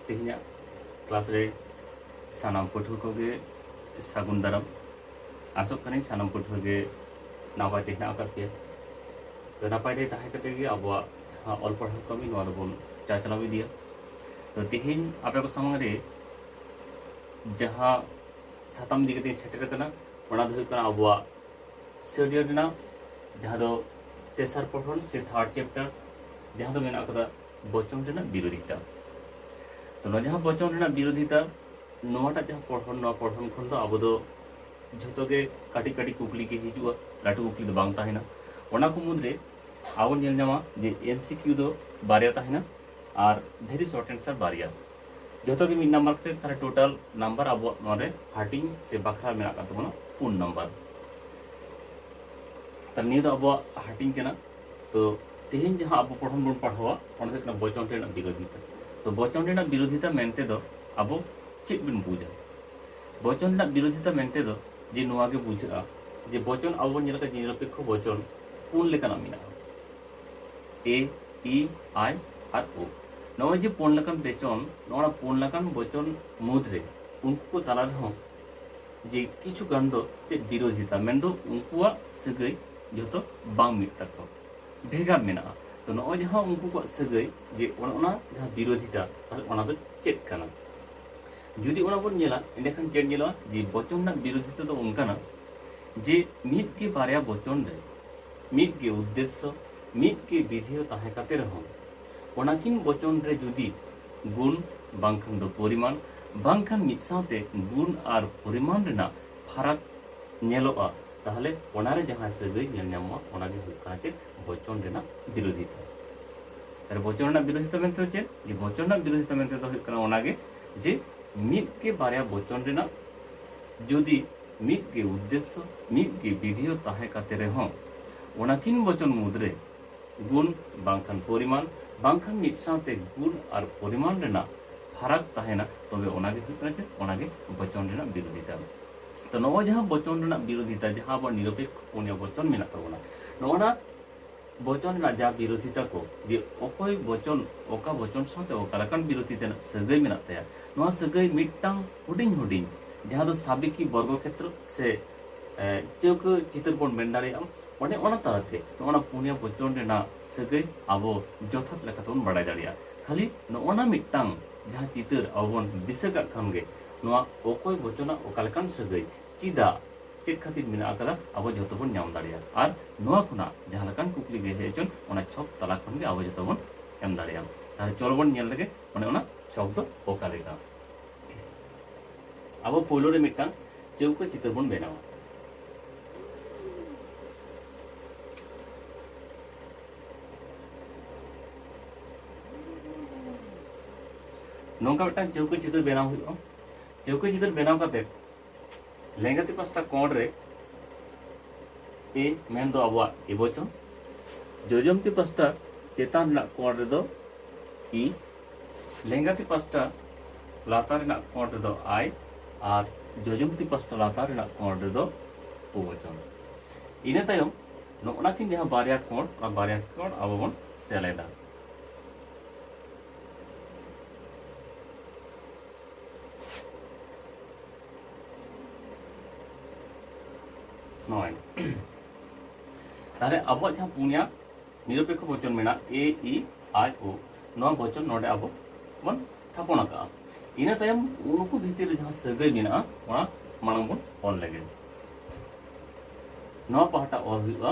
ᱛᱮᱦᱮᱧᱟᱜ ᱠᱞᱟᱥ ᱨᱮ ᱥᱟᱱᱟᱢ ᱯᱟᱹᱴᱷᱩᱣᱟᱹ ᱠᱚᱜᱮ ᱥᱟᱹᱜᱩᱱ ᱫᱟᱨᱟᱢ ᱟᱥᱚᱜ ᱠᱟᱹᱱᱟᱹᱧ ᱥᱟᱱᱟᱢ ᱯᱟᱹᱴᱷᱩᱣᱟᱹ ᱜᱮ ᱱᱟᱯᱟᱭ ᱛᱮ ᱦᱮᱱᱟᱜ ᱟᱠᱟᱫ ᱯᱮᱭᱟ ᱛᱚ ᱱᱟᱯᱟᱭ ᱛᱮ ᱛᱟᱦᱮᱸ ᱠᱟᱛᱮ ᱜᱮ ᱟᱵᱚᱣᱟᱜ ᱡᱟᱦᱟᱸ ᱚᱞ ᱯᱟᱲᱦᱟᱣ ᱠᱟᱹᱢᱤ ᱱᱚᱣᱟ ᱫᱚᱵᱚᱱ ᱪᱟᱪᱞᱟᱣ ᱤᱫᱤᱭᱟ ᱛᱚ ᱛᱮᱦᱮᱧ ᱟᱯᱮ ᱠᱚ ᱥᱟᱢᱟᱝ ᱨᱮ ᱡᱟᱦᱟᱸ ᱥᱟᱛᱟᱢ ᱤᱫᱤ ᱠᱟᱛᱮᱧ ᱥᱮᱴᱮᱨ ᱟᱠᱟᱱᱟ ᱚᱱᱟ ᱫᱚ ᱦᱩᱭᱩᱜ ᱠᱟᱱᱟ ᱟᱵᱚᱣᱟᱜ ᱥᱮᱰᱤᱭᱩᱞ ᱨᱮᱱᱟᱜ ᱡᱟᱦᱟᱸ ᱫᱚ ᱛᱮᱥᱟᱨ ᱯᱚᱴᱷᱚᱱ ᱥᱮ ᱛᱷᱟᱨᱰ ᱪᱮᱯᱴᱟᱨ ᱡᱟᱦᱟᱸ ᱫᱚ ᱢᱮᱱᱟᱜ ᱟᱠᱟᱫᱟ ᱵᱚᱪᱚᱱ ᱨᱮᱱᱟᱜ ᱵᱤᱨᱳᱫᱷᱤᱛᱟ ᱛᱚ ᱱᱚᱣᱟ ᱡᱟᱦᱟᱸ ᱵᱚᱪᱚᱱ ᱨᱮᱱᱟᱜ ᱵᱤᱨᱳᱫᱷᱤᱛᱟ ᱱᱚᱣᱟᱴᱟᱜ ᱡᱟᱦᱟᱸ ᱯᱚᱴᱷᱚᱱ ᱱᱚᱣᱟ ᱯᱚᱴᱷᱚᱱ ᱠᱷᱚᱱ ᱫᱚ ᱟᱵᱚ ᱫᱚ ᱡᱷᱚᱛᱚ ᱜᱮ ᱠᱟᱹᱴᱤᱡ ᱠᱟᱹᱴᱤᱡ ᱠᱩᱠᱞᱤ ᱜᱮ ᱦᱤᱡᱩᱜᱼᱟ ᱞᱟᱹᱴᱩ ᱠᱩᱠᱞᱤ ᱫᱚ ᱵᱟᱝ ᱛᱟᱦᱮᱱᱟ ᱚᱱᱟ ᱠᱚ ᱢᱩᱫᱽᱨᱮ ᱟᱵᱚ ᱧᱮᱞ ᱧᱟᱢᱟ ᱡᱮ ᱮᱢᱥᱤᱠᱤᱭᱩ ᱫᱚ ᱵᱟᱨᱭᱟ ᱛᱟᱦᱮᱱᱟ ᱟᱨ ᱵᱷᱮᱨᱤ ᱥᱚᱨᱴ ᱮᱱᱥᱟᱨ ᱵᱟᱨᱭᱟ ᱡᱚᱛᱚ ᱜᱮ ᱢᱤᱫ ᱱᱟᱢᱵᱟᱨ ᱠᱟᱛᱮ ᱛᱟᱦᱚᱞᱮ ᱴᱳᱴᱟᱞ ᱱᱟᱢᱵᱟᱨ ᱟᱵᱚᱣᱟᱜ ᱱᱚᱣᱟ ᱨᱮ ᱦᱟᱹᱴᱤᱧ ᱥᱮ ᱵᱟᱠᱷᱨᱟ ᱢᱮᱱᱟᱜ ᱠᱟᱱ ᱛᱟᱵᱚᱱᱟ ᱯᱩᱱ ᱱᱟᱢᱵᱟᱨ ᱛᱟᱦᱚᱞᱮ ᱱᱤᱭᱟᱹ ᱫᱚ ᱟᱵᱚᱣᱟᱜ ᱦᱟᱹᱴᱤᱧ ᱠᱟᱱᱟ ᱛᱚ ᱛᱮᱦᱮᱧ ᱡᱟᱦᱟᱸ ᱟᱵᱚ ᱯᱚᱲᱦᱚᱱ ᱵᱚᱱ ᱯᱟᱲᱦᱟᱣᱟ ᱚᱱᱟ ᱦᱩᱭᱩᱜ ᱠᱟᱱᱟ ᱵᱚᱪᱚᱱ ᱨᱮᱱᱟᱜ ᱵᱤᱨᱳᱫᱷᱤᱛᱟ ᱛᱚ ᱵᱚᱪᱚᱱ ᱨᱮᱱᱟᱜ ᱵᱤᱨᱳᱫᱷᱤᱛᱟ ᱢᱮᱱᱛᱮ ᱫᱚ ᱟᱵᱚ ᱪᱮᱫ ᱵᱚᱱ ᱵᱩᱡᱟ ᱵᱚᱪᱚᱱ ᱨᱮᱱᱟᱜ ᱵᱤᱨᱳᱫᱷᱤᱛᱟ ᱢᱮᱱᱛᱮ ᱫᱚ ᱡᱮ ᱱᱚᱣᱟ ᱜᱮ ᱵᱩᱡᱷᱟᱹᱜᱼᱟ ᱡᱮ ᱵᱚᱪᱚᱱ ᱟᱵᱚ ᱵᱚᱱ ᱧᱮᱞ ᱠᱟᱜ ᱡᱮ ᱱᱤᱨᱚᱯᱮᱠᱠᱷᱚ ᱵᱚᱪᱚᱱ ᱯᱩᱱ ᱞᱮᱠᱟᱱᱟᱜ ᱢᱮᱱᱟᱜᱼᱟ ᱮ ᱤ ᱟᱭ ᱟᱨ ᱳ ᱱᱚᱜᱼᱚᱭ ᱡᱮ ᱯᱩᱱ ᱞᱮᱠᱟᱱ ᱵᱮᱪᱚᱱ ᱱᱚᱣᱟ ᱯᱩᱱ ᱞᱮᱠᱟᱱ ᱵᱚᱪᱚᱱ ᱢᱩᱫᱽᱨᱮ ᱩᱱᱠᱩ ᱠᱚ ᱛᱟᱞᱟ ᱨᱮᱦᱚᱸ ᱡᱮ ᱠᱤᱪᱷᱩ ᱜᱟᱱ ᱫᱚ ᱪᱮᱫ ᱵᱤᱨᱳᱫᱷᱤᱛᱟ ᱢᱮᱱᱫᱚ ᱩᱱᱠᱩᱣᱟᱜ ᱥᱟᱹᱜᱟᱹᱭ ᱡᱚᱛᱚ ᱵᱟᱝ ᱢᱤᱫ ᱛᱟᱠᱚᱣᱟ ᱵᱷᱮᱜᱟᱨ ᱢᱮᱱᱟᱜᱼᱟ ᱛᱚ ᱱᱚᱜᱼᱚᱭ ᱡᱟᱦᱟᱸ ᱩᱱᱠᱩ ᱠᱚᱣᱟᱜ ᱥᱟᱹᱜᱟᱹᱭ ᱡᱮ ᱚᱱᱟ ᱚᱱᱟ ᱡᱟᱦᱟᱸ ᱵᱤᱨᱳᱫᱷᱤᱛᱟ ᱛᱟᱦᱚᱞᱮ ᱚᱱᱟ ᱫᱚ ᱪᱮᱫ ᱠᱟᱱᱟ ᱡᱩᱫᱤ ᱚᱱᱟ ᱵᱚᱱ ᱧᱮᱞᱟ ᱮᱸᱰᱮᱠᱷᱟᱱ ᱪᱮᱫ ᱧᱮᱞᱚᱜᱼᱟ ᱡᱮ ᱵᱚᱪᱚᱱ ᱨᱮᱱᱟᱜ ᱵᱤᱨᱳᱫᱷᱤᱛᱟ ᱫᱚ ᱚᱱᱠᱟᱱᱟ ᱡᱮ ᱢᱤᱫ ᱜᱮ ᱵᱟᱨᱭᱟ ᱵᱚᱪᱚᱱ ᱨᱮ ᱢᱤᱫ ᱜᱮ ᱩᱫᱽᱫᱮᱥᱥᱚ ᱢᱤᱫ ᱜᱮ ᱵᱤᱫᱷᱮᱭᱚ ᱛᱟᱦᱮᱸ ᱠᱟᱛᱮ ᱨᱮᱦᱚᱸ ᱚᱱᱟᱠᱤᱱ ᱵᱚᱪᱚᱱ ᱨᱮ ᱡᱩᱫᱤ ᱜᱩᱱ ᱵᱟᱝᱠᱷᱟᱱ ᱫᱚ ᱯᱚᱨᱤᱢᱟᱱ ᱵᱟᱝᱠᱷᱟᱱ ᱢᱤᱫ ᱥᱟᱶᱛᱮ ᱜᱩᱱ ᱟᱨ ᱯᱚᱨᱤᱢᱟᱱ ᱨᱮᱱᱟᱜ ᱯᱷᱟᱨᱟᱠ ᱧᱮᱞᱚᱜᱼᱟ ᱛᱟᱦᱞᱮ ᱚᱱᱟᱨᱮ ᱡᱟᱦᱟᱸ ᱥᱟᱹᱜᱟᱹᱭ ᱧᱮᱞ ᱧᱟᱢᱚᱜᱼᱟ ᱚᱱᱟᱜᱮ ᱦᱩᱭᱩᱜ ᱠᱟᱱᱟ ᱪᱮᱫ ᱵᱚᱪᱚᱱ ᱨᱮᱱᱟᱜ ᱵᱤᱨᱳᱫᱷᱤᱛᱟ ᱛᱟᱦᱞᱮ ᱵᱚᱪᱚᱱ ᱨᱮᱱᱟᱜ ᱵᱤᱨᱳᱫᱷᱤᱛᱟ ᱢᱮᱱᱛᱮ ᱪᱮᱫ ᱡᱮ ᱵᱚᱪᱚᱱ ᱨᱮᱱᱟᱜ ᱵᱤᱨᱳᱫᱷᱤᱛᱟ ᱢᱮᱱᱛᱮ ᱫᱚ ᱦᱩᱭᱩᱜ ᱠᱟᱱᱟ ᱚᱱᱟᱜᱮ ᱡᱮ ᱢᱤᱫ ᱜᱮ ᱵᱟᱨᱭᱟ ᱵᱚᱪᱚᱱ ᱨᱮᱱᱟᱜ ᱡᱩᱫᱤ ᱢᱤᱫ ᱜᱮ ᱩᱫᱽᱫᱮᱥᱥᱚ ᱢᱤᱫ ᱜᱮ ᱵᱤᱫᱷᱤᱭᱚ ᱛᱟᱦᱮᱸ ᱠᱟᱛᱮ ᱨᱮᱦᱚᱸ ᱚᱱᱟ ᱠᱤᱱ ᱵᱚᱪᱚᱱ ᱢᱩᱫᱽᱨᱮ ᱜᱩᱱ ᱵᱟᱝᱠᱷᱟᱱ ᱯᱚᱨᱤᱢᱟᱱ ᱵᱟᱝᱠᱷᱟᱱ ᱢᱤᱫ ᱥᱟᱶᱛᱮ ᱜᱩᱱ ᱟᱨ ᱯᱚᱨᱤᱢᱟᱱ ᱨᱮᱱᱟᱜ ᱯᱷᱟᱨᱟᱠ ᱛᱟᱦᱮᱱᱟ ᱛᱚᱵᱮ ᱚᱱᱟᱜᱮ ᱦᱩᱭᱩᱜ ᱠᱟᱱᱟ ᱪᱮᱫ ᱚᱱᱟᱜᱮ ᱵᱚᱪᱚᱱ ᱨᱮᱱᱟᱜ ᱵᱤᱨᱳᱫᱷᱤᱛᱟ ᱛᱚ ᱱᱚᱜᱼᱚᱭ ᱡᱟᱦᱟᱸ ᱵᱚᱪᱚᱱ ᱨᱮᱱᱟᱜ ᱵᱤᱨᱳᱫᱷᱤᱛᱟ ᱡᱟᱦᱟᱸ ᱟᱵᱚ ᱱᱤᱨᱚᱯᱮᱠᱷᱚ ᱯᱩᱱᱭᱟ ᱵᱚᱪᱚᱱ ᱢᱮᱱᱟᱜ ᱛᱟᱵᱚᱱᱟ ᱱᱚᱜᱼᱚᱱᱟ ᱵᱚᱪᱚᱱ ᱨᱟᱡᱟ ᱵᱤᱨᱚᱫᱷᱤᱛᱟ ᱠᱚ ᱡᱮ ᱚᱠᱚᱭ ᱵᱚᱪᱚᱱ ᱚᱠᱟ ᱵᱚᱪᱚᱱ ᱥᱟᱶᱛᱮ ᱚᱠᱟ ᱞᱮᱠᱟᱱ ᱵᱤᱨᱚᱫᱷᱤ ᱛᱮᱱᱟᱜ ᱥᱟᱹᱜᱟᱹᱭ ᱢᱮᱱᱟᱜ ᱛᱟᱭᱟ ᱱᱚᱣᱟ ᱥᱟᱹᱜᱟᱹᱭ ᱢᱤᱫᱴᱟᱝ ᱦᱩᱰᱤᱧ ᱦᱩᱰᱤᱧ ᱡᱟᱦᱟᱸ ᱫᱚ ᱥᱟᱵᱤᱠᱤ ᱵᱚᱨᱜᱚ ᱠᱷᱮᱛᱨᱚ ᱥᱮ ᱪᱟᱹᱣᱠᱟᱹ ᱪᱤᱛᱟᱹᱨ ᱵᱚᱱ ᱢᱮᱱ ᱫᱟᱲᱮᱭᱟᱜᱼᱟ ᱚᱱᱮ ᱚᱱᱟ ᱛᱟᱞᱟᱛᱮ ᱱᱚᱜᱼᱚᱱᱟ ᱯᱩᱱᱭᱟ ᱵᱚᱪᱚᱱ ᱨᱮᱱᱟᱜ ᱥᱟᱹᱜᱟᱹᱭ ᱟᱵᱚ ᱡᱚᱛᱷᱟᱛ ᱞᱮᱠᱟᱛᱮ ᱵᱚᱱ ᱵᱟᱰᱟᱭ ᱫᱟᱲᱮᱭᱟᱜᱼᱟ ᱠᱷᱟᱹᱞᱤ ᱱᱚᱜᱼᱚᱱᱟ ᱢᱤᱫᱴᱟᱝ ᱡᱟᱦᱟᱸ ᱪᱤᱛᱟᱹᱨ ᱟᱵᱚ ᱵᱚᱱ ᱫᱤᱥᱟᱹ ᱠᱟᱜ ᱠᱷᱟᱱ ᱜᱮ ᱱᱚᱣᱟ ᱚᱠᱚᱭ ᱵᱚᱪᱚᱱᱟᱜ ᱚᱠᱟ ᱞᱮᱠᱟᱱ ᱥᱟᱹᱜᱟᱹᱭ ᱪᱮᱫᱟᱜ ᱪᱮᱫ ᱠᱷᱟᱹᱛᱤᱨ ᱢᱮᱱᱟᱜ ᱟᱠᱟᱫᱟ ᱟᱵᱚ ᱡᱚᱛᱚ ᱵᱚᱱ ᱧᱟᱢ ᱫᱟᱲᱮᱭᱟᱜᱼᱟ ᱟᱨ ᱱᱚᱣᱟ ᱠᱷᱚᱱᱟᱜ ᱡᱟᱦᱟᱸ ᱞᱮᱠᱟᱱ ᱠᱩᱠᱞᱤ ᱜᱮ ᱦᱮᱡ ᱦᱚᱪᱚᱱ ᱚᱱᱟ ᱪᱷᱚᱠ ᱛᱟᱞᱟ ᱠᱷᱚᱱ ᱜᱮ ᱟᱵᱚ ᱡᱚᱛᱚ ᱵᱚᱱ ᱮᱢ ᱫᱟᱲᱮᱭᱟᱜᱼᱟ ᱛᱟᱦᱞᱮ ᱪᱚᱞ ᱵᱚᱱ ᱧᱮᱞ ᱞᱮᱜᱮ ᱚᱱᱮ ᱚᱱᱟ ᱪᱷᱚᱠ ᱫᱚ ᱚᱠᱟ ᱞᱮᱠᱟ ᱟᱵᱚ ᱯᱳᱭᱞᱳ ᱨᱮ ᱢᱤᱫᱴᱟᱝ ᱪᱟᱹᱣᱠᱟᱹ ᱪᱤᱛᱟᱹᱨ ᱵᱚᱱ ᱵᱮᱱᱟᱣᱟ ᱱᱚᱝᱠᱟ ᱢᱤᱫᱴᱟᱝ ᱪᱟᱹᱣᱠᱟᱹ ᱪᱤᱛᱟᱹᱨ ᱵᱮᱱᱟᱣ ᱦᱩᱭᱩᱜᱼᱟ ᱪᱟᱹᱣᱠᱟᱹ ᱪᱤᱛᱟᱹᱨ ᱵᱮᱱᱟᱣ ᱠᱟᱛᱮ ᱞᱮᱸᱜᱟᱛᱤ ᱯᱟᱥᱴᱟ ᱠᱚᱬ ᱨᱮ ᱮ ᱢᱮᱱ ᱫᱚ ᱟᱵᱚᱣᱟᱜ ᱮᱵᱚᱪᱚᱱ ᱡᱚᱡᱚᱢᱛᱤ ᱯᱟᱥᱴᱟ ᱪᱮᱛᱟᱱ ᱨᱮᱱᱟᱜ ᱠᱚᱬ ᱨᱮᱫᱚ ᱤ ᱞᱮᱸᱜᱟᱛᱤ ᱯᱟᱥᱴᱟ ᱞᱟᱛᱟᱨ ᱨᱮᱱᱟᱜ ᱠᱚᱬ ᱨᱮᱫᱚ ᱟᱭ ᱟᱨ ᱡᱚᱡᱚᱢᱛᱤ ᱯᱟᱥᱴᱟ ᱞᱟᱛᱟᱨ ᱨᱮᱱᱟᱜ ᱠᱚᱬ ᱨᱮᱫᱚ ᱚᱵᱚᱪᱚᱱ ᱤᱱᱟᱹ ᱛᱟᱭᱚᱢ ᱱᱚᱜᱼᱱᱟ ᱠᱤᱱ ᱡᱟᱦᱟᱸ ᱵᱟᱨᱭᱟ ᱠᱚᱬ ᱚᱱᱟ ᱵᱟᱨᱭᱟ ᱠᱚᱬ ᱟᱵᱚ ᱵᱚᱱ ᱥᱮᱞᱮᱫᱟ ᱱᱚᱭ ᱛᱟᱦᱞᱮ ᱟᱵᱚᱣᱟᱜ ᱡᱟᱦᱟᱸ ᱯᱩᱱᱭᱟ ᱱᱤᱨᱚᱯᱮᱠᱷᱚ ᱵᱚᱪᱚᱱ ᱢᱮᱱᱟᱜ ᱮ ᱤ ᱟᱭ ᱳ ᱱᱚᱣᱟ ᱵᱚᱪᱚᱱ ᱱᱚᱰᱮ ᱟᱵᱚ ᱵᱚᱱ ᱛᱷᱟᱯᱚᱱ ᱟᱠᱟᱫᱼᱟ ᱤᱱᱟᱹ ᱛᱟᱭᱚᱢ ᱩᱱᱠᱩ ᱵᱷᱤᱛᱤᱨ ᱨᱮ ᱡᱟᱦᱟᱸ ᱥᱟᱹᱜᱟᱹᱭ ᱢᱮᱱᱟᱜᱼᱟ ᱚᱱᱟ ᱢᱟᱲᱟᱝ ᱵᱚᱱ ᱚᱞ ᱞᱮᱜᱮ ᱱᱚᱣᱟ ᱯᱟᱦᱴᱟ ᱚᱞ ᱦᱩᱭᱩᱜᱼᱟ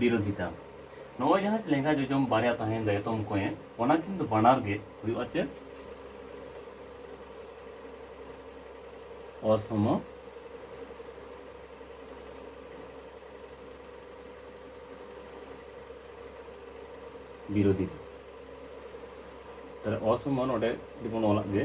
ᱵᱤᱨᱳᱫᱷᱤᱛᱟ ᱱᱚᱣᱟ ᱡᱟᱦᱟᱸ ᱞᱮᱸᱜᱟ ᱡᱚᱡᱚᱢ ᱵᱟᱨᱭᱟ ᱛᱟᱦᱮᱱ ᱫᱚ ᱮᱛᱚᱢ ᱠᱚᱭᱮ ᱚᱱᱟ ᱠᱤᱱᱛᱩ ᱵᱟᱱᱟᱨ ᱜᱮ ᱦᱩᱭᱩᱜᱼᱟ ᱪᱮᱫ ᱚᱥᱚᱢ ᱵᱤᱨᱳᱫᱷᱤᱛᱟ ᱛᱟᱦᱞᱮ ᱚᱥᱚᱢ ᱱᱚᱰᱮ ᱡᱮᱢᱚᱱ ᱚᱞᱟᱜ ᱜᱮ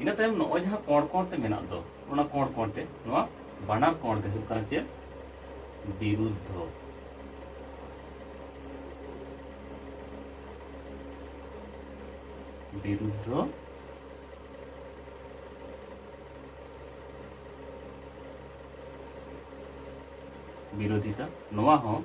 ᱤᱱᱟᱹ ᱛᱟᱭᱚᱢ ᱱᱚᱜᱼᱚᱭ ᱡᱟᱦᱟᱸ ᱠᱚᱬ ᱠᱚᱬ ᱛᱮ ᱢᱮᱱᱟᱜ ᱫᱚ ᱚᱱᱟ ᱠᱚᱬ ᱠᱚᱬ ᱛᱮ ᱱᱚᱣᱟ ᱵᱟᱱᱟᱨ ᱠᱚᱬ ᱫᱚ ᱦᱩᱭᱩᱜ ᱠᱟᱱᱟ ᱪᱮᱫ ᱵᱤᱨᱩᱫᱽᱫᱷᱚ ᱵᱤᱨᱩᱫᱽᱫᱷᱚ ᱵᱤᱨᱳᱫᱷᱤᱛᱟ ᱱᱚᱣᱟ ᱦᱚᱸ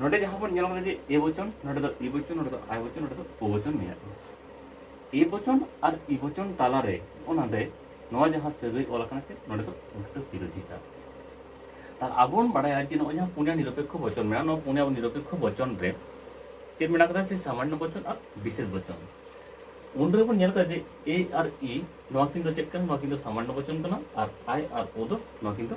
ᱱᱚᱰᱮ ᱡᱟᱦᱟᱸ ᱵᱚᱱ ᱧᱮᱞ ᱠᱟᱫᱟ ᱡᱮ ᱮ ᱵᱚᱪᱚᱱ ᱱᱚᱰᱮ ᱫᱚ ᱤ ᱵᱚᱪᱚᱱ ᱱᱚᱰᱮ ᱫᱚ ᱟᱭ ᱵᱚᱪᱚᱱ ᱱᱚᱰᱮ ᱫᱚ ᱳ ᱵᱚᱪᱚᱱ ᱢᱮᱱᱟᱜᱼᱟ ᱮ ᱵᱚᱪᱚᱱ ᱟᱨ ᱤ ᱵᱚᱪᱚᱱ ᱛᱟᱞᱟᱨᱮ ᱚᱱᱟᱨᱮ ᱱᱚᱣᱟ ᱡᱟᱦᱟᱸ ᱥᱟᱹᱜᱟᱹᱭ ᱚᱞ ᱟᱠᱟᱱᱟ ᱪᱮᱫ ᱱᱚᱰᱮ ᱫᱚ ᱩᱞᱴᱟᱹ ᱵᱤᱨᱳᱫᱷᱤᱛᱟ ᱛᱟᱦᱞᱮ ᱟᱵᱚ ᱵᱚᱱ ᱵᱟᱲᱟᱭᱟ ᱡᱮ ᱱᱚᱜᱼᱚᱭ ᱡᱟᱦᱟᱸ ᱯᱩᱱᱭᱟ ᱱᱤᱨᱚᱯᱮᱠᱠᱷᱚ ᱵᱚᱪᱚᱱ ᱢᱮᱱᱟᱜᱼᱟ ᱱᱚᱣᱟ ᱯᱩᱱᱭᱟ ᱱᱤᱨᱚᱯᱮᱠᱠᱷᱚ ᱵᱚᱪᱚᱱ ᱨᱮ ᱪᱮᱫ ᱢᱮᱱᱟᱜ ᱠᱟᱫᱟ ᱥᱮ ᱥᱟᱢᱟᱱᱱᱚ ᱵᱚᱪᱚᱱ ᱟᱨ ᱵᱤᱥᱮᱥ ᱵᱚᱪᱚᱱ ᱩᱱ ᱨᱮ ᱵᱚᱱ ᱧᱮᱞ ᱠᱟᱫᱟ ᱡᱮ ᱮ ᱟᱨ ᱤ ᱱᱚᱣᱟ ᱠᱤᱱ ᱫᱚ ᱪᱮᱫ ᱠᱟᱱᱟ ᱱᱚᱣᱟ ᱠᱤᱱ ᱫᱚ ᱥᱟᱢᱟᱱᱱᱚ ᱵᱚᱪᱚᱱ ᱠᱟᱱᱟ ᱟᱨ ᱟᱭ ᱟᱨ ᱳ ᱫᱚ ᱱᱚᱣᱟ ᱠᱤᱱ ᱫᱚ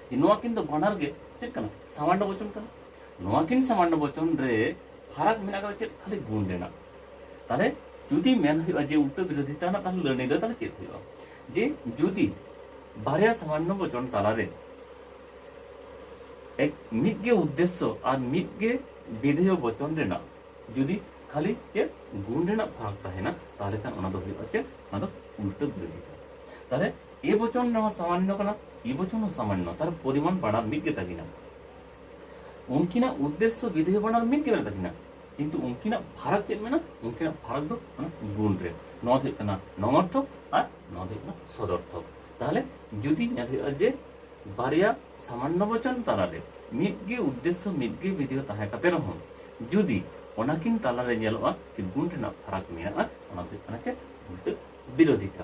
ᱡᱮ ᱱᱚᱣᱟ ᱠᱤᱱ ᱫᱚ ᱵᱟᱱᱟᱨ ᱜᱮ ᱪᱮᱫ ᱠᱟᱱᱟ ᱥᱟᱢᱟᱱᱰᱚ ᱵᱚᱪᱚᱱ ᱠᱟᱱᱟ ᱱᱚᱣᱟ ᱠᱤᱱ ᱥᱟᱢᱟᱱᱰᱚ ᱵᱚᱪᱚᱱ ᱨᱮ ᱯᱷᱟᱨᱟᱠ ᱢᱮᱱᱟᱜ ᱠᱟᱫᱟ ᱪᱮᱫ ᱠᱷᱟᱹᱞᱤ ᱜᱩᱱ ᱨᱮᱱᱟᱜ ᱛᱟᱦᱞᱮ ᱡᱩᱫᱤ ᱢᱮᱱ ᱦᱩᱭᱩᱜᱼᱟ ᱡᱮ ᱩᱞᱴᱟᱹ ᱵᱤᱨᱳᱫᱷᱤ ᱛᱟᱦᱮᱱᱟ ᱛᱟᱦᱞᱮ ᱞᱟᱹᱱᱟᱹᱭ ᱫᱚ ᱛᱟᱦᱞᱮ ᱪᱮᱫ ᱦᱩᱭᱩᱜᱼᱟ ᱡᱮ ᱡᱩᱫᱤ ᱵᱟᱨᱭᱟ ᱥᱟᱢᱟᱱᱰᱚ ᱵᱚᱪᱚᱱ ᱛᱟᱞᱟᱨᱮ ᱮᱠ ᱢᱤᱫ ᱜᱮ ᱩᱫᱽᱫᱮᱥᱥᱚ ᱟᱨ ᱢᱤᱫ ᱜᱮ ᱵᱤᱫᱷᱮᱭᱚ ᱵᱚᱪᱚᱱ ᱨᱮᱱᱟᱜ ᱡᱩᱫᱤ ᱠᱷᱟᱹᱞᱤ ᱪᱮᱫ ᱜᱩᱱ ᱨᱮᱱᱟᱜ ᱯᱷᱟᱨᱟᱠ ᱛᱟᱦᱮᱱᱟ ᱛᱟᱦᱞᱮ ᱠᱷᱟᱱ ᱚᱱᱟ ᱫᱚ ᱦᱩᱭᱩᱜᱼᱟ ᱪᱮᱫ ᱚᱱᱟ ᱫᱚ ᱩᱞᱴᱟᱹ ᱵᱤᱨᱳᱫᱷᱤ ᱛᱟᱦᱞᱮ ᱮ ᱵᱚᱪᱚᱱ ᱨᱮᱦᱚᱸ ᱥᱟᱢᱟᱱᱱᱚ ᱠᱟᱱᱟ ᱮ ᱵᱚᱪᱚᱱ ᱦᱚᱸ ᱥᱟᱢᱟᱱᱱᱚ ᱛᱟᱨ ᱯᱚᱨᱤᱢᱟᱱ ᱵᱟᱱᱟᱨ ᱢᱤᱫ ᱜᱮᱛᱟ ᱠᱤᱱᱟ ᱩᱱᱠᱤᱱᱟᱜ ᱩᱫᱽᱫᱮᱥᱥᱚ ᱵᱤᱫᱷᱮᱭ ᱵᱟᱱᱟᱨ ᱢᱤᱫ ᱜᱮ ᱢᱮᱱᱟᱜ ᱛᱟᱹᱠᱤᱱᱟ ᱠᱤᱱᱛᱩ ᱩᱱᱠᱤᱱᱟᱜ ᱯᱷᱟᱨᱟᱠ ᱪᱮᱫ ᱢᱮᱱᱟᱜᱼᱟ ᱩᱱᱠᱤᱱᱟᱜ ᱯᱷᱟᱨᱟᱠ ᱫᱚ ᱚᱱᱟ ᱜᱩᱱ ᱨᱮ ᱱᱚᱣᱟ ᱫᱚ ᱦᱩᱭᱩᱜ ᱠᱟᱱᱟ ᱱᱚᱢᱚᱨᱛᱷᱚᱠ ᱟᱨ ᱱᱚᱣᱟ ᱫᱚ ᱦᱩᱭᱩᱜ ᱠᱟᱱᱟ ᱥᱚᱫᱚᱨᱛᱷᱚᱠ ᱛᱟᱦᱚᱞᱮ ᱡᱩᱫᱤ ᱧᱮᱞ ᱦᱩᱭᱩᱜᱼᱟ ᱡᱮ ᱵᱟᱨᱭᱟ ᱥᱟᱢᱟᱱᱱᱚ ᱵᱚᱪᱚᱱ ᱛᱟᱞᱟᱨᱮ ᱢᱤᱫ ᱜᱮ ᱩᱫᱽᱫᱮᱥᱥᱚ ᱢᱤᱫ ᱜᱮ ᱵᱤᱫᱷᱮᱭ ᱛᱟᱦᱮᱸ ᱠᱟᱛᱮ ᱨᱮᱦᱚᱸ ᱡᱩᱫᱤ ᱚᱱᱟᱠᱤᱱ ᱛᱟᱞᱟᱨᱮ ᱧᱮᱞᱚᱜᱼᱟ ᱡᱮ ᱜᱩᱱ ᱨᱮᱱᱟᱜ ᱯᱷᱟᱨᱟᱠ ᱢᱮᱱᱟᱜᱼᱟ ᱚᱱᱟ ᱫᱚ ᱦᱩᱭᱩᱜ ᱠᱟᱱᱟ ᱪᱮᱫ ᱩᱞᱴᱟᱹ ᱵᱤᱨᱳᱫᱷᱤᱛᱟ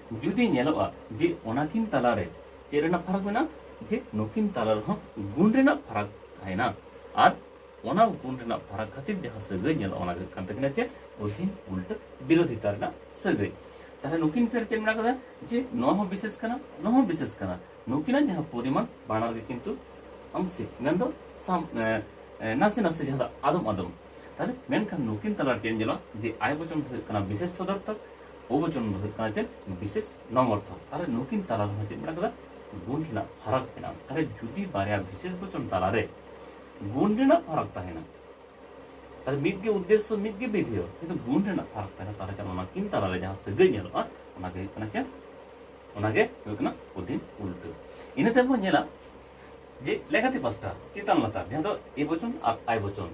ᱡᱩᱫᱤ ᱧᱮᱞᱚᱜᱼᱟ ᱡᱮ ᱚᱱᱟ ᱠᱤᱱ ᱛᱟᱞᱟ ᱨᱮ ᱪᱮᱫ ᱨᱮᱱᱟᱜ ᱯᱷᱟᱨᱟᱠ ᱢᱮᱱᱟᱜᱼᱟ ᱡᱮ ᱱᱩᱠᱤᱱ ᱛᱟᱞᱟ ᱨᱮᱦᱚᱸ ᱜᱩᱱ ᱨᱮᱱᱟᱜ ᱯᱷᱟᱨᱟᱠ ᱛᱟᱦᱮᱱᱟ ᱟᱨ ᱚᱱᱟ ᱜᱩᱱ ᱨᱮᱱᱟᱜ ᱯᱷᱟᱨᱟᱠ ᱠᱷᱟᱹᱛᱤᱨ ᱡᱟᱦᱟᱸ ᱥᱟᱹᱜᱟᱹᱭ ᱧᱮᱞᱚᱜᱼᱟ ᱚᱱᱟ ᱦᱩᱭᱩᱜ ᱠᱟᱱ ᱛᱟᱹᱠᱤᱱᱟ ᱪᱮᱫ ᱚᱫᱷᱤᱱ ᱩᱞᱴᱟᱹ ᱵᱤᱨᱳᱫᱷᱤᱛᱟ ᱨᱮᱱᱟᱜ ᱥᱟᱹᱜᱟᱹᱭ ᱛᱟᱦᱞᱮ ᱱᱩᱠᱤᱱ ᱯᱷᱮᱨ ᱪᱮᱫ ᱢᱮᱱᱟᱜ ᱠᱟᱫᱟ ᱡᱮ ᱱᱚᱣᱟ ᱦᱚᱸ ᱵᱤᱥᱮᱥ ᱠᱟᱱᱟ ᱱᱚᱣᱟ ᱦᱚᱸ ᱵᱤᱥᱮᱥ ᱠᱟᱱᱟ ᱱᱩᱠᱤᱱᱟᱜ ᱡᱟᱦᱟᱸ ᱯᱚᱨᱤᱢᱟᱱ ᱵᱟᱱᱟᱨ ᱜᱮ ᱠᱤᱱᱛᱩ ᱟᱢ ᱥᱮ ᱢᱮᱱᱫᱚ ᱥᱟᱢ ᱱᱟᱥᱮ ᱱᱟᱥᱮ ᱡᱟᱦᱟᱸ ᱫᱚ ᱟᱫᱚᱢ ᱟᱫᱚᱢ ᱛᱟᱦᱞᱮ ᱢᱮᱱᱠᱷᱟᱱ ᱱᱩᱠᱤᱱ ᱛᱟᱞᱟᱨᱮ ᱪᱮᱫ ᱧᱮᱞᱚᱜᱼᱟ ᱡᱮ ᱟᱭ ᱵᱚᱪᱚᱱ ᱫᱚ ᱦᱩᱭᱩᱜ ᱠᱟᱱᱟ ᱵᱤᱥᱮᱥ ᱥᱚᱫᱚᱨᱛᱷᱚᱠ ᱵᱚᱪᱚᱱ ᱫᱚ ᱦᱩᱭᱩᱜ ᱠᱟᱱᱟ ᱪᱮᱫ ᱵᱤᱥᱮᱥ ᱱᱚᱝ ᱚᱨᱛᱷᱚ ᱛᱟᱦᱚᱞᱮ ᱱᱩᱠᱤᱱ ᱛᱟᱞᱟ ᱨᱮᱦᱚᱸ ᱪᱮᱫ ᱢᱮᱱᱟᱜ ᱠᱟᱫᱟ ᱜᱩᱱ ᱨᱮᱱᱟᱜ ᱯᱷᱟᱨᱟᱠ ᱢᱮᱱᱟᱜᱼᱟ ᱛᱟᱦᱚᱞᱮ ᱡᱩᱫᱤ ᱵᱟᱨᱭᱟ ᱵᱤᱥᱮᱥ ᱵᱚᱪᱚᱱ ᱛᱟᱞᱟᱨᱮ ᱜᱩᱱ ᱨᱮᱱᱟᱜ ᱯᱷᱟᱨᱟᱠ ᱛᱟᱦᱮᱱᱟ ᱛᱟᱦᱚᱞᱮ ᱢᱤᱫ ᱜᱮ ᱩᱫᱽᱫᱮᱥᱥᱚ ᱢᱤᱫ ᱜᱮ ᱵᱤᱫᱷᱮᱭᱚ ᱠᱤᱱᱛᱩ ᱜᱩᱱ ᱨᱮᱱᱟᱜ ᱯᱷᱟᱨᱟᱠ ᱛᱟᱦᱮᱱᱟ ᱛᱟᱦᱚᱞᱮ ᱠᱷᱟᱱ ᱚᱱᱟ ᱠᱤᱱ ᱛᱟᱞᱟᱨᱮ ᱡᱟᱦᱟᱸ ᱥᱟᱹᱜᱟᱹᱭ ᱧᱮᱞᱚᱜᱼᱟ ᱚᱱᱟᱜᱮ ᱦᱩᱭᱩᱜ ᱠᱟᱱᱟ ᱪᱮᱫ ᱚᱱᱟᱜᱮ ᱦᱩᱭᱩᱜ ᱠᱟᱱᱟ ᱚᱫᱷᱤᱱ ᱩᱞᱴᱟᱹ ᱤᱱᱟᱹ ᱛᱟᱭᱚᱢ ᱵᱚᱱ ᱧᱮᱞᱟ ᱡᱮ ᱞᱮᱠᱟᱛᱮ ᱯᱟᱥᱴᱟ ᱪᱮᱛᱟᱱ ᱞᱟᱛᱟᱨ ᱡᱟᱦᱟᱸ ᱫᱚ ᱮ ᱵᱚᱪᱚᱱ ᱟᱨ ᱟᱭ ᱵᱚᱪᱚᱱ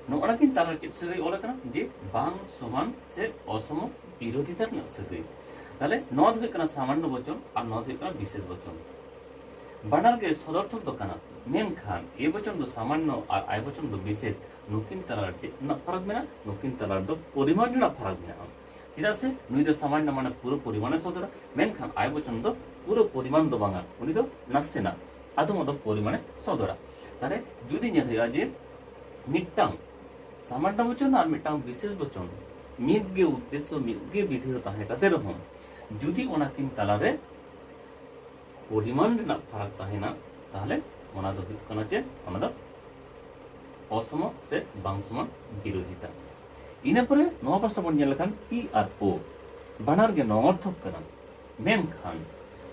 ᱱᱚᱜᱼᱚᱱᱟ ᱠᱤᱱ ᱛᱟᱞᱟᱨᱮ ᱪᱮᱫ ᱥᱟᱹᱜᱟᱹᱭ ᱚᱞ ᱟᱠᱟᱱᱟ ᱡᱮ ᱵᱟᱝ ᱥᱚᱢᱟᱱ ᱥᱮ ᱚᱥᱚᱢ ᱵᱤᱨᱳধিᱛᱟ ᱨᱮᱱᱟᱜ ᱥᱟᱹᱜᱟᱹᱭ ᱛᱟᱦᱞᱮ ᱱᱚᱣᱟ ᱫᱚ ᱦᱩᱭᱩᱜ ᱠᱟᱱᱟ ᱥᱟᱢᱟᱱᱱᱚ ᱵᱚᱪᱚᱱ ᱟᱨ ᱱᱚᱣᱟ ᱫᱚ ᱦᱩᱭᱩᱜ ᱠᱟᱱᱟ ᱵᱤᱥᱮᱥ ᱵᱚᱪᱚᱱ ᱵᱟᱱᱟᱨ ᱜᱮ ᱥᱚᱫᱚᱨᱛᱷᱚᱠ ᱫᱚ ᱠᱟᱱᱟ ᱢᱮᱱᱠᱷᱟᱱ ᱮ ᱵᱚᱪᱚᱱ ᱫᱚ ᱥᱟᱢᱟᱱᱱᱚ ᱟᱨ ᱟᱭ ᱵᱚᱪᱚᱱ ᱫᱚ ᱵᱤᱥᱮᱥ ᱱᱩᱠᱤᱱ ᱛᱟᱞᱟᱨᱮ ᱪᱮᱫ ᱨᱮᱱᱟᱜ ᱯᱷᱟᱨᱟᱠ ᱢᱮᱱᱟᱜᱼᱟ ᱱᱩᱠᱤᱱ ᱛᱟᱞᱟᱨᱮ ᱫᱚ ᱯᱚᱨᱤᱢᱟᱱ ᱨᱮᱱᱟᱜ ᱯᱷᱟᱨᱟᱠ ᱢᱮᱱᱟᱜᱼᱟ ᱪᱮᱫᱟᱜ ᱥᱮ ᱱᱩᱭ ᱫᱚ ᱥᱟᱢᱟᱱᱱᱚ ᱢᱟᱱᱮ ᱯᱩᱨᱟᱹ ᱯᱚᱨᱤᱢᱟᱱᱮ ᱥᱚᱫᱚᱨᱟ ᱢᱮᱱᱠᱷᱟᱱ ᱟᱭ ᱵᱚᱪᱚᱱ ᱫᱚ ᱯᱩᱨᱟᱹ ᱯᱚᱨᱤᱢᱟᱱ ᱫᱚ ᱵᱟᱝᱟ ᱩᱱᱤ ᱫᱚ ᱱᱟᱥᱮᱱᱟᱜ ᱟᱫᱚᱢ ᱟᱫᱚᱢ ᱯᱚᱨᱤᱢᱟᱱᱮ ᱥᱚᱫᱚᱨᱟ ᱛᱟᱦᱞᱮ ᱡᱩᱫᱤ ᱧᱮᱞ ᱦᱩᱭᱩᱜᱼᱟ ᱡᱮ ᱢᱤᱫᱴᱟᱝ ᱥᱟᱢᱟᱱᱱᱚ ᱵᱚᱪᱚᱱ ᱟᱨ ᱢᱤᱫᱴᱟᱝ ᱵᱤᱥᱮᱥ ᱵᱚᱪᱚᱱ ᱢᱤᱫ ᱜᱮ ᱩᱫᱽᱫᱮᱥᱥᱚ ᱢᱤᱫ ᱜᱮ ᱵᱤᱫᱷᱤ ᱫᱚ ᱛᱟᱦᱮᱸ ᱠᱟᱛᱮ ᱨᱮᱦᱚᱸ ᱡᱩᱫᱤ ᱚᱱᱟᱠᱤᱱ ᱛᱟᱞᱟᱨᱮ ᱯᱚᱨᱤᱢᱟᱱ ᱨᱮᱱᱟᱜ ᱯᱷᱟᱨᱟᱠ ᱛᱟᱦᱮᱱᱟ ᱛᱟᱦᱞᱮ ᱚᱱᱟ ᱫᱚ ᱦᱩᱭᱩᱜ ᱠᱟᱱᱟ ᱪᱮᱫ ᱚᱱᱟ ᱫᱚ ᱚᱥᱚᱢ ᱥᱮ ᱵᱟᱝ ᱥᱚᱢᱟᱱ ᱵᱤᱨᱳধিᱛᱟ ᱤᱱᱟᱹ ᱯᱚᱨᱮ ᱱᱚᱣᱟ ᱯᱟᱥᱴᱟ ᱵᱚᱱ ᱧᱮᱞ ᱞᱮᱠᱷᱟᱱ ᱯᱤ ᱟᱨ ᱳ ᱵᱟᱱᱟᱨ ᱜᱮ ᱱᱚᱝᱚᱨᱛᱷᱚᱠ ᱠᱟᱱᱟ ᱢᱮᱱᱠᱷᱟᱱ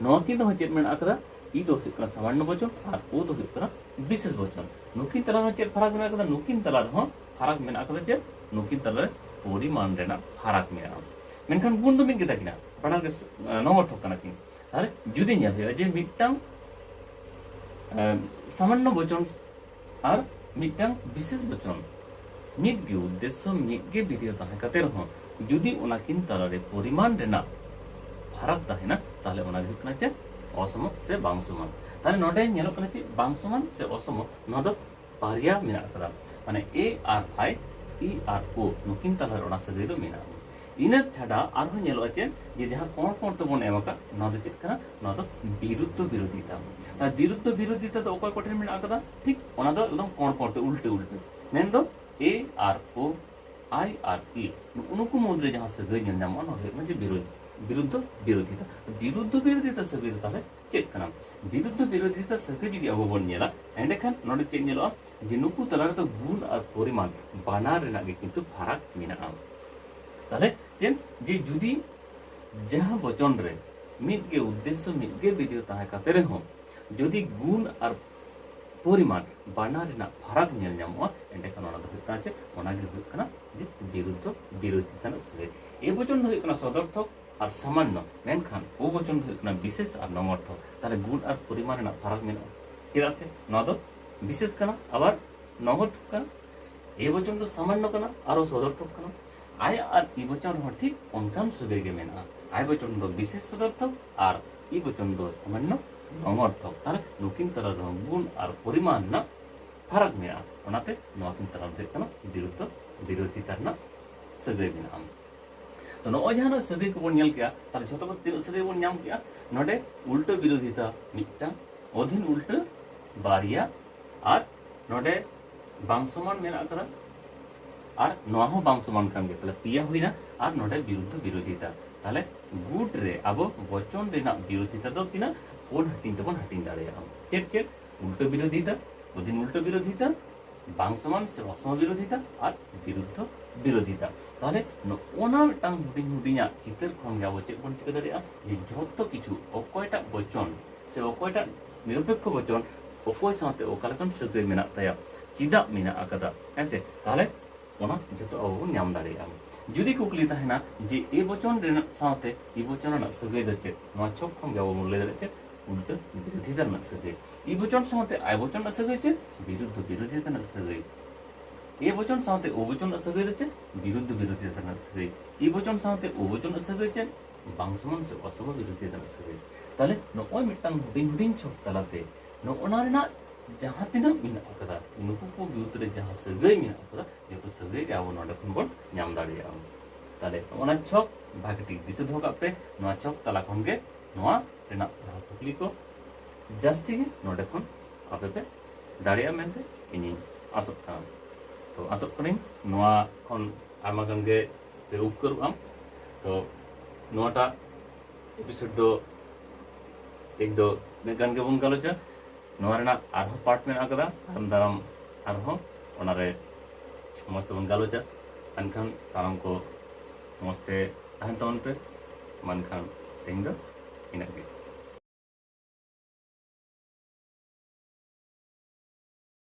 ᱱᱚᱣᱟ ᱠᱤᱱ ᱨᱮᱦᱚᱸ ᱪᱮᱫ ᱢᱮᱱᱟᱜ ᱟᱠᱟᱫᱟ ᱯᱤ ᱫᱚ ᱦᱩᱭᱩᱜ ᱠᱟᱱᱟ ᱥᱟᱢᱟᱱᱱᱚ ᱵᱚᱪᱚᱱ ᱟᱨ ᱳ ᱫᱚ ᱦᱩᱭᱩᱜ ᱠᱟᱱᱟ ᱵᱤᱥᱮᱥ ᱵᱚᱪᱚᱱ ᱱᱩᱠᱤᱱ ᱛᱟᱞᱟ ᱨᱮᱦᱚᱸ ᱪᱮᱫ ᱯᱷᱟᱨᱟᱠ ᱢᱮᱱᱟᱜ ᱟᱠᱟᱫᱟ ᱱᱩᱠᱤᱱ ᱛᱟᱞᱟ ᱨᱮᱦᱚᱸ ᱯᱷᱟᱨᱟᱠ ᱢᱮᱱᱟᱜ ᱟᱠᱟᱫᱟ ᱪᱮᱫ ᱱᱩᱠᱤᱱ ᱛᱟᱞᱟ ᱨᱮ ᱯᱚᱨᱤᱢᱟᱱ ᱨᱮᱱᱟᱜ ᱯᱷᱟᱨᱟᱠ ᱢᱮᱱᱟᱜᱼᱟ ᱢᱮᱱᱠᱷᱟᱱ ᱜᱩᱱ ᱫᱚ ᱢᱤᱫ ᱜᱮᱛᱟ ᱠᱤᱱᱟ ᱵᱟᱱᱟᱨ ᱜᱮ ᱱᱚᱝᱚᱨᱛᱷᱚᱠ ᱠᱟᱱᱟ ᱠᱤᱱ ᱛᱟᱦᱚᱞᱮ ᱡᱩᱫᱤ ᱧᱮᱞ ᱦᱩᱭᱩᱜᱼᱟ ᱡᱮ ᱢᱤᱫᱴᱟᱝ ᱥᱟᱢᱟᱱᱱᱚ ᱵᱚᱪᱚᱱ ᱟᱨ ᱢᱤᱫᱴᱟᱝ ᱵᱤᱥᱮᱥ ᱵᱚᱪᱚᱱ ᱢᱤᱫ ᱜᱮ ᱩᱫᱽᱫᱮᱥᱥᱚ ᱢᱤᱫ ᱜᱮ ᱵᱤᱫᱷᱮᱭ ᱛᱟᱦᱮᱸ ᱠᱟᱛᱮ ᱨᱮᱦᱚᱸ ᱡᱩᱫᱤ ᱚᱱᱟ ᱠᱤᱱ ᱛᱟᱞᱟᱨᱮ ᱯᱚᱨᱤᱢᱟᱱ ᱨᱮᱱᱟᱜ ᱯᱷᱟᱨᱟᱠ ᱛᱟᱦᱮᱱᱟ ᱛᱟᱦᱞᱮ ᱚᱱᱟ ᱜᱮ ᱦᱩᱭᱩᱜ ᱠᱟᱱᱟ ᱪᱮᱫ ᱚᱥᱚᱢᱚ ᱥᱮ ᱵᱟᱝ ᱥᱚᱢᱟᱱ ᱛᱟᱦᱞᱮ ᱱᱚᱰᱮ ᱧᱮᱞᱚᱜ ᱠᱟᱱᱟ ᱪᱮᱫ ᱵᱟᱝ ᱥᱚᱢᱟᱱ ᱥᱮ ᱚᱥᱚᱢᱚ ᱱᱚᱣᱟ ᱫᱚ ᱵᱟᱨᱭᱟ ᱢᱮᱱᱟᱜ ᱟᱠᱟᱫᱟ ᱢᱟᱱᱮ ᱮ ᱟᱨ ᱟᱭ ᱤ ᱟᱨ ᱳ ᱱᱩᱠᱤᱱ ᱛᱟᱞᱟᱨᱮ ᱚᱱᱟ ᱥᱟᱹᱜᱟᱹᱭ ᱫᱚ ᱢᱮᱱᱟᱜᱼᱟ ᱤᱱᱟᱹ ᱪᱷᱟᱰᱟ ᱟᱨᱦᱚᱸ ᱧᱮᱞᱚᱜᱼᱟ ᱪᱮᱫ ᱡᱮ ᱡᱟᱦᱟᱸ ᱠᱚᱬ ᱠᱚᱬ ᱛᱮᱵᱚᱱ ᱮᱢ ᱟᱠᱟᱫ ᱱᱚᱣᱟ ᱫᱚ ᱪᱮᱫ ᱠᱟᱱᱟ ᱱᱚᱣᱟ ᱫᱚ ᱵᱤᱨᱩᱫᱽᱫᱷᱚ ᱵᱤᱨᱳᱫᱷᱤᱛᱟ ᱟᱨ ᱵᱤᱨᱩᱫᱽᱫᱷᱚ ᱵᱤᱨᱳᱫᱷᱤᱛᱟ ᱫᱚ ᱚᱠᱚᱭ ᱠᱚᱴᱷᱮᱱ ᱢᱮᱱᱟᱜ ᱟᱠᱟᱫᱟ ᱴᱷᱤᱠ ᱚᱱᱟ ᱫᱚ ᱮᱠᱫᱚᱢ ᱠᱚᱬ ᱠᱚᱬ ᱛᱮ ᱩᱞᱴᱟᱹ ᱩᱞᱴᱟᱹ ᱢᱮᱱᱫᱚ ᱮ ᱟᱨ ᱳ ᱟᱭ ᱟᱨ ᱤ ᱱᱩᱠᱩ ᱢᱩᱫᱽᱨᱮ ᱡᱟᱦᱟᱸ ᱥᱟᱹᱜᱟᱹᱭ ᱧᱮᱞ ᱧᱟᱢᱚᱜᱼᱟ ᱱᱚᱣᱟ ᱫᱚ ᱦᱩᱭᱩᱜ ᱠᱟᱱᱟ ᱡᱮ ᱵᱤᱨᱩᱫᱽᱫᱷᱚ ᱵᱤᱨᱳᱫᱷᱤᱛᱟ ᱵᱤᱨᱩᱫᱽᱫᱷᱚ ᱵᱤᱨᱳᱫᱷᱤᱛᱟ ᱥᱟᱹᱜᱟᱹᱭ ᱫᱚ ᱛᱟᱦᱚᱞᱮ ᱪᱮᱫ ᱠᱟᱱᱟ ᱵᱤᱨᱩᱫᱽᱫᱷ ᱵᱤᱨᱳᱫᱷᱤᱛᱟ ᱥᱟᱹᱜᱟᱹᱭ ᱡᱩᱫᱤ ᱟᱵᱚ ᱵᱚᱱ ᱧᱮᱞᱟ ᱮᱸᱰᱮᱠᱷᱟᱱ ᱱᱚᱰᱮ ᱪᱮᱫ ᱧᱮᱞᱚᱜᱼᱟ ᱡᱮ ᱱᱩᱠᱩ ᱛᱟᱞᱟ ᱨᱮᱫᱚ ᱜᱩᱱ ᱟᱨ ᱯᱚᱨᱤᱢᱟᱱ ᱵᱟᱱᱟᱨ ᱨᱮᱱᱟᱜ ᱜᱮ ᱠᱤᱱᱛᱩ ᱯᱷᱟᱨᱟᱠ ᱢᱮᱱᱟᱜᱼᱟ ᱛᱟᱦᱞᱮ ᱪᱮᱫ ᱡᱮ ᱡᱩᱫᱤ ᱡᱟᱦᱟᱸ ᱵᱚᱪᱚᱱ ᱨᱮ ᱢᱤᱫ ᱜᱮ ᱩᱫᱽᱫᱮᱥᱥᱚ ᱢᱤᱫ ᱜᱮ ᱵᱤᱫᱮᱭ ᱛᱟᱦᱮᱸ ᱠᱟᱛᱮ ᱨᱮᱦᱚᱸ ᱡᱩᱫᱤ ᱜᱩᱱ ᱟᱨ ᱯᱚᱨᱤᱢᱟᱱ ᱵᱟᱱᱟᱨ ᱨᱮᱱᱟᱜ ᱯᱷᱟᱨᱟᱠ ᱧᱮᱞ ᱧᱟᱢᱚᱜᱼᱟ ᱮᱸᱰᱮᱠᱷᱟᱱ ᱚᱱᱟ ᱫᱚ ᱦᱩᱭᱩᱜ ᱠᱟᱱᱟ ᱪᱮᱫ ᱚᱱᱟ ᱜᱮ ᱦᱩᱭᱩᱜ ᱠᱟᱱᱟ ᱡᱮ ᱵᱤᱨᱩᱫᱽᱫᱷ ᱵᱤᱨᱳᱫᱷᱤᱛᱟ ᱨᱮᱱᱟᱜ ᱥᱟᱹᱜᱟᱹᱭ ᱮ ᱵᱚᱪᱚᱱ ᱫᱚ ᱦᱩᱭᱩᱜ ᱠᱟᱱᱟ ᱥᱚᱫᱚᱨᱛᱷᱚᱠ ᱟᱨ ᱥᱟᱢᱟᱱᱱᱚ ᱢᱮᱱᱠᱷᱟᱱ ᱵᱚᱪᱚᱱ ᱫᱚ ᱦᱩᱭᱩᱜ ᱠᱟᱱᱟ ᱵᱤᱥᱮᱥ ᱟᱨ ᱱᱚᱝᱚᱨᱛᱷᱚ ᱛᱟᱦᱞᱮ ᱜᱩᱱ ᱟᱨ ᱯᱚᱨᱤᱢᱟᱱ ᱨᱮᱱᱟᱜ ᱯᱷᱟᱨᱟᱠ ᱢᱮᱱᱟᱜᱼᱟ ᱪᱮᱫᱟᱜ ᱥᱮ ᱱᱚᱣᱟ ᱫᱚ ᱵᱤᱥᱮᱥ ᱠᱟᱱᱟ ᱟᱵᱟᱨ ᱱᱚᱝᱚᱨᱛᱷᱚ ᱠᱟᱱᱟ ᱮ ᱵᱚᱪᱚᱱ ᱫᱚ ᱥᱟᱢᱟᱱᱱᱚ ᱠᱟᱱᱟ ᱟᱨᱚ ᱥᱚᱫᱚᱨᱛᱷᱚᱠ ᱠᱟᱱᱟ ᱟᱭ ᱟᱨ ᱤ ᱵᱚᱪᱚᱱ ᱦᱚᱸ ᱴᱷᱤᱠ ᱚᱱᱠᱟᱱ ᱥᱟᱹᱜᱟᱹᱭ ᱜᱮ ᱢᱮᱱᱟᱜᱼᱟ ᱟᱭ ᱵᱚᱪᱚᱱ ᱫᱚ ᱵᱤᱥᱮᱥ ᱥᱚᱫᱚᱨᱛᱷᱚᱠ ᱟᱨ ᱤ ᱵᱚᱪᱚᱱ ᱫᱚ ᱥᱟᱢᱟᱱᱱᱚ ᱱᱚᱝᱚᱨᱛᱷᱚᱠ ᱛᱟᱦᱞᱮ ᱱᱩᱠᱤᱱ ᱛᱟᱞᱟ ᱨᱮᱦᱚᱸ ᱜᱩᱱ ᱟᱨ ᱯᱚᱨᱤᱢᱟᱱ ᱨᱮᱱᱟᱜ ᱯᱷᱟᱨᱟᱠ ᱢᱮᱱᱟᱜᱼᱟ ᱚᱱᱟᱛᱮ ᱱᱚᱣᱟ ᱠᱤᱱ ᱛᱟᱞᱟ ᱨᱮ ᱦᱩᱭᱩᱜ ᱠᱟᱱᱟ ᱵᱤᱨᱩᱫᱽᱫᱷᱚ ᱵᱤᱨᱳᱫᱷᱤᱛᱟ ᱨᱮᱱᱟᱜ ᱥᱟᱹᱜᱟᱹᱭ ᱢᱮᱱᱟᱜᱼᱟ ᱛᱚ ᱱᱚᱜᱼᱚᱭ ᱡᱟᱦᱟᱸ ᱱᱚᱜᱼᱚᱭ ᱥᱟᱹᱜᱟᱹᱭ ᱠᱚᱵᱚᱱ ᱧᱮᱞ ᱠᱮᱜᱼᱟ ᱛᱟᱦᱚᱞᱮ ᱡᱷᱚᱛᱚ ᱠᱚ ᱛᱤᱱᱟᱹᱜ ᱥᱟᱹᱜᱟᱹᱭ ᱵᱚᱱ ᱧᱟᱢ ᱠᱮᱜᱼᱟ ᱱᱚᱰᱮ ᱩᱞᱴᱟᱹ ᱵᱤᱨᱳᱫᱷᱤᱛᱟ ᱢᱤᱫᱴᱟᱝ ᱚᱫᱷᱤᱱ ᱩᱞᱴᱟᱹ ᱵᱟᱨᱭᱟ ᱟᱨ ᱱᱚᱰᱮ ᱵᱟᱝ ᱥᱚᱢᱟᱱ ᱢᱮᱱᱟᱜ ᱟᱠᱟᱫᱟ ᱟᱨ ᱱᱚᱣᱟ ᱦᱚᱸ ᱵᱟᱝ ᱥᱚᱢᱟᱱ ᱠᱟᱱ ᱜᱮᱭᱟ ᱛᱟᱦᱚᱞᱮ ᱯᱮᱭᱟ ᱦᱩᱭᱱᱟ ᱟᱨ ᱱᱚᱰᱮ ᱵᱤᱨᱩᱫᱽᱫᱷ ᱵᱤᱨᱳᱫᱷᱤᱛᱟ ᱛᱟᱦᱚᱞᱮ ᱜᱩᱴ ᱨᱮ ᱟᱵᱚ ᱵᱚᱪᱚᱱ ᱨᱮᱱᱟᱜ ᱵᱤᱨᱳᱫᱷᱤᱛᱟ ᱫᱚ ᱛᱤᱱᱟᱹᱜ ᱯᱩᱱ ᱦᱟᱹᱴᱤᱧ ᱛᱮᱵᱚᱱ ᱦᱟᱹᱴᱤᱧ ᱫᱟᱲᱮᱭᱟᱜᱼᱟ ᱪᱮᱫ ᱪᱮᱫ ᱩᱞᱴᱟᱹ ᱵᱤᱨᱳᱫᱷᱤᱛᱟ ᱚᱫᱷᱤᱱ ᱩᱞᱴᱟᱹ ᱵᱤᱨᱳᱫᱷᱤᱛᱟ ᱵᱟᱝ ᱥᱚᱢᱟᱱ ᱥᱮ ᱚᱥᱚᱢ ᱵᱤᱨᱳᱫᱷᱤᱛᱟ ᱟᱨ ᱵᱤᱨᱩᱫᱽᱫᱷᱚ ᱵᱤᱨᱳᱫᱷᱤᱛᱟ ᱛᱟᱦᱚᱞᱮ ᱱᱚᱜᱼᱚᱱᱟ ᱢᱤᱫᱴᱟᱝ ᱦᱩᱰᱤᱧ ᱦᱩᱰᱤᱧᱟᱜ ᱪᱤᱛᱟᱹᱨ ᱠᱷᱚᱱ ᱜᱮ ᱟᱵᱚ ᱪᱮᱫ ᱵᱚᱱ ᱪᱤᱠᱟᱹ ᱫᱟᱲᱮᱭᱟᱜᱼᱟ ᱡᱮ ᱡᱷᱚᱛᱚ ᱠᱤᱪᱷᱩ ᱚᱠᱚᱭᱴᱟᱜ ᱵᱚᱪᱚᱱ ᱥᱮ ᱚᱠᱚᱭᱴᱟᱜ ᱱᱤᱨᱚᱯᱮᱠᱠᱷᱚ ᱵᱚᱪᱚᱱ ᱚᱠᱚᱭ ᱥᱟᱶᱛᱮ ᱚᱠᱟ ᱞᱮᱠᱟᱱ ᱥᱟᱹᱜᱟᱹᱭ ᱢᱮᱱᱟᱜ ᱛᱟᱭᱟ ᱪᱮᱫᱟᱜ ᱢᱮᱱᱟᱜ ᱟᱠᱟᱫᱟ ᱦᱮᱸᱥᱮ ᱛᱟᱦᱚᱞᱮ ᱚᱱᱟ ᱡᱷᱚᱛᱚ ᱟᱵᱚ ᱵᱚᱱ ᱧᱟᱢ ᱫᱟᱲᱮᱭᱟᱜᱼᱟ ᱡᱩᱫᱤ ᱠᱩᱠᱞᱤ ᱛᱟᱦᱮᱱᱟ ᱡᱮ ᱮ ᱵᱚᱪᱚᱱ ᱨᱮᱱᱟᱜ ᱥᱟᱶᱛᱮ ᱤ ᱵᱚᱪᱚᱱ ᱨᱮᱱᱟᱜ ᱥᱟᱹᱜᱟᱹᱭ ᱫᱚ ᱪᱮᱫ ᱱᱚᱣᱟ ᱪᱷᱚᱠ ᱠᱷᱚᱱ ᱜᱮ ᱟᱵᱚ ᱵᱚᱱ ᱞᱟᱹᱭ ᱫᱟᱲᱮᱭᱟᱜᱼᱟ ᱪᱮᱫ ᱩᱞᱴᱟᱹ ᱵᱤᱨᱳᱫᱷᱤᱛᱟ ᱨᱮᱱᱟᱜ ᱥᱟᱹᱜᱟᱹᱭ ᱤ ᱵᱚᱪᱚᱱ ᱥᱟᱶᱛᱮ ᱟᱭ ᱵᱚᱪᱚᱱ ᱨᱮᱱᱟᱜ ᱥᱟᱹᱜᱟᱹᱭ ᱪᱮᱫ ᱵᱤᱨᱩᱫᱽᱫᱷ ᱵᱤᱨᱳᱫᱷᱤ ᱨᱮᱱᱟᱜ ᱥᱟᱹᱜᱟᱹᱭ ᱮ ᱵᱚᱪᱚᱱ ᱥᱟᱶᱛᱮ ᱳ ᱵᱚᱪᱚᱱ ᱨᱮᱱᱟᱜ ᱥᱟᱹᱜᱟᱹᱭ ᱫᱚ ᱪᱮᱫ ᱵᱤᱨᱩᱫᱽᱫᱷ ᱵᱤᱨᱳᱫᱷᱤ ᱨᱮᱱᱟᱜ ᱥᱟᱹᱜᱟᱹᱭ ᱤ ᱵᱚᱪᱚᱱ ᱥᱟᱶᱛᱮ ᱳ ᱵᱚᱪᱚᱱ ᱨᱮᱱᱟᱜ ᱥᱟᱹᱜᱟᱹᱭ ᱪᱮᱫ ᱵᱟᱝ ᱥᱚᱢᱟᱱ ᱥᱮ ᱚᱥᱚᱵᱟ ᱵᱤᱨᱳᱫᱷᱤ ᱨᱮᱱᱟᱜ ᱥᱟᱹᱜᱟᱹᱭ ᱛᱟᱦᱞᱮ ᱱᱚᱜᱼᱚᱭ ᱢᱤᱫᱴᱟᱝ ᱦᱩᱰᱤᱧ ᱦᱩᱰᱤᱧ ᱪᱷᱚᱠ ᱛᱟᱞᱟᱛᱮ ᱱᱚᱜᱼᱚᱱᱟ ᱨᱮᱱᱟᱜ ᱡᱟᱦᱟᱸ ᱛᱤᱱᱟᱹᱜ ᱢᱮᱱᱟᱜ ᱟᱠᱟᱫᱟ ᱱᱩᱠᱩ ᱠᱚ ᱵᱤᱨᱩᱫᱽ ᱨᱮ ᱡᱟᱦᱟᱸ ᱥᱟᱹᱜᱟᱹᱭ ᱢᱮᱱᱟᱜ ᱟᱠᱟᱫᱟ ᱡᱚᱛᱚ ᱥᱟᱹᱜᱟᱹᱭ ᱜᱮ ᱟᱵᱚ ᱱᱚᱰᱮ ᱠᱷᱚᱱ ᱵᱚᱱ ᱧᱟᱢ ᱫᱟᱲᱮᱭᱟᱜᱼᱟ ᱛᱟᱦᱞᱮ ᱱᱚᱜᱼᱚᱱᱟ ᱪᱷᱚᱠ ᱵᱷᱟᱜᱮ ᱴᱷᱤᱠ ᱫᱤᱥᱟᱹ ᱫᱚᱦᱚ ᱠᱟᱜ ᱯᱮ ᱱᱚᱣᱟ ᱪᱷᱚᱠ ᱛᱟᱞᱟ ᱠᱷᱚᱱ ᱜᱮ ᱱᱚᱣᱟ ᱨᱮᱱᱟᱜ ᱡᱟᱦᱟᱸ ᱠᱩᱠᱞᱤ ᱠᱚ ᱡᱟᱹᱥᱛᱤ ᱜᱮ ᱱᱚᱰᱮ ᱠᱷᱚᱱ ᱟᱯᱮ ᱯᱮ ᱫᱟᱲᱮᱭᱟᱜᱼᱟ ᱢᱮᱱᱛᱮ ᱤᱧᱤᱧ ᱟᱥᱚᱜ ᱠᱟᱱᱟ ᱛᱚ ᱟᱥᱚᱜ ᱠᱟᱹᱱᱟᱹᱧ ᱱᱚᱣᱟ ᱠᱷᱚᱱ ᱟᱭᱢᱟ ᱜᱟᱱ ᱜᱮ ᱯᱮ ᱩᱯᱠᱟᱹᱨᱚᱜᱼᱟ ᱛᱚ ᱱᱚᱣᱟᱴᱟᱜ ᱮᱯᱤᱥᱳᱰ ᱫᱚ ᱛᱮᱦᱮᱧ ᱫᱚ ᱤᱱᱟᱹᱜ ᱜᱟᱱ ᱜᱮᱵᱚᱱ ᱜᱟᱞᱚᱪᱟ ᱱᱚᱣᱟ ᱨᱮᱱᱟᱜ ᱟᱨᱦᱚᱸ ᱯᱟᱨᱴ ᱢᱮᱱᱟᱜ ᱟᱠᱟᱫᱟ ᱛᱟᱭᱚᱢ ᱫᱟᱨᱟᱢ ᱟᱨᱦᱚᱸ ᱚᱱᱟᱨᱮ ᱢᱚᱡᱽ ᱛᱮᱵᱚᱱ ᱜᱟᱞᱚᱪᱟ ᱮᱱᱠᱷᱟᱱ ᱥᱟᱱᱟᱢ ᱠᱚ ᱢᱚᱡᱽ ᱛᱮ ᱛᱟᱦᱮᱱ ᱛᱟᱵᱚᱱ ᱯᱮ ᱢᱟ ᱮᱱᱠᱷᱟᱱ ᱛᱮᱦᱮᱧ ᱫᱚ ᱤᱱᱟᱹᱜ ᱜᱮ